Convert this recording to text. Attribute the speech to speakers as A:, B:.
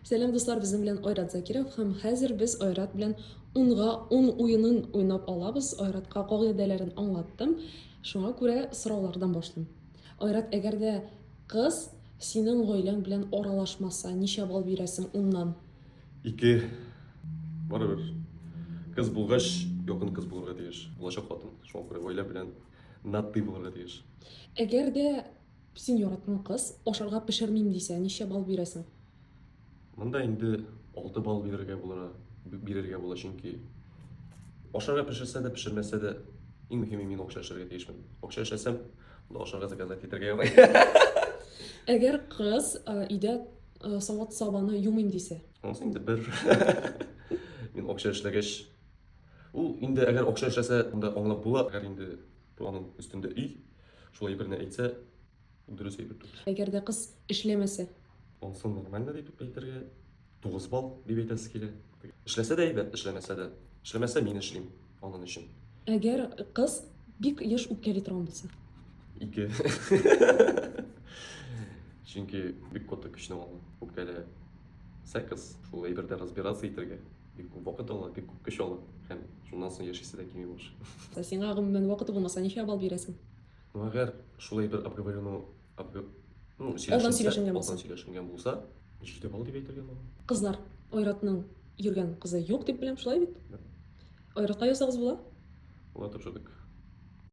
A: Сәлам дуслар, безнең белән Айрат Закиров һәм хәзер без Айрат белән унга ун уенын уйнап алабыз. Айратка кагыйдәләрен аңлаттым. Шуңа күрә сораулардан башлыйм. Айрат, әгәр дә кыз синең гаиләң белән аралашмаса, ничә балл бирәсең уннан? Ике.
B: Барыбер. Кыз булгач, якын кыз булырга тиеш. Булачак хатын. Шуңа күрә гаилә белән наддый булырга тиеш. Әгәр дә
A: Син яраткан кыз ашарга пешермим дисә, ничә балл бирәсең? Монда
B: инде алты балл бирергә була, бирергә була, чөнки ашарга пешерсә дә, пешермәсә дә, иң мөһиме мин акча эшләргә тиешмен. Акча эшләсәм, монда ашарга заказать итәргә ярый.
A: Әгәр кыз өйдә савыт сабаны юмыйм дисә? Анысы инде бер.
B: Мин акча эшләгәч, ул инде әгәр акча эшләсә, монда аңлап була, әгәр инде Планын өстендә өй. Шулай берне әйтсә, дөрес әйтеп түгел. Әгәр дә кыз
A: эшләмәсә. Онсын
B: нормально дип әйтергә. 9 балл дип әйтәсе килә. Эшләсә дә әйбәт, эшләмәсә дә. Эшләмәсә мин эшлим аның өчен. Әгәр кыз
A: бик еш үпкәли торган булса. Ике.
B: Чөнки бик каты көчне ала. Үпкәлә. Секс, шул әйбердә разбираться итергә. Бик күп вакыт ала, бик күп көч ала һәм шуннан соң яшисе дә килми башлый. Сиңа гомумән
A: вакыты булмаса, ничә балл бирәсең? Ну, әгәр
B: шулай бер обговорено, обго... ну, Алдан сөйләшенсә, сөйләшенгән
A: булса. алдан сөйләшенгән булса,
B: җиде балл дип әйтергә була. Кызлар,
A: Айратның йөргән кызы юк дип беләм, шулай бит? Айратка язсагыз була? Була, тапшырдык.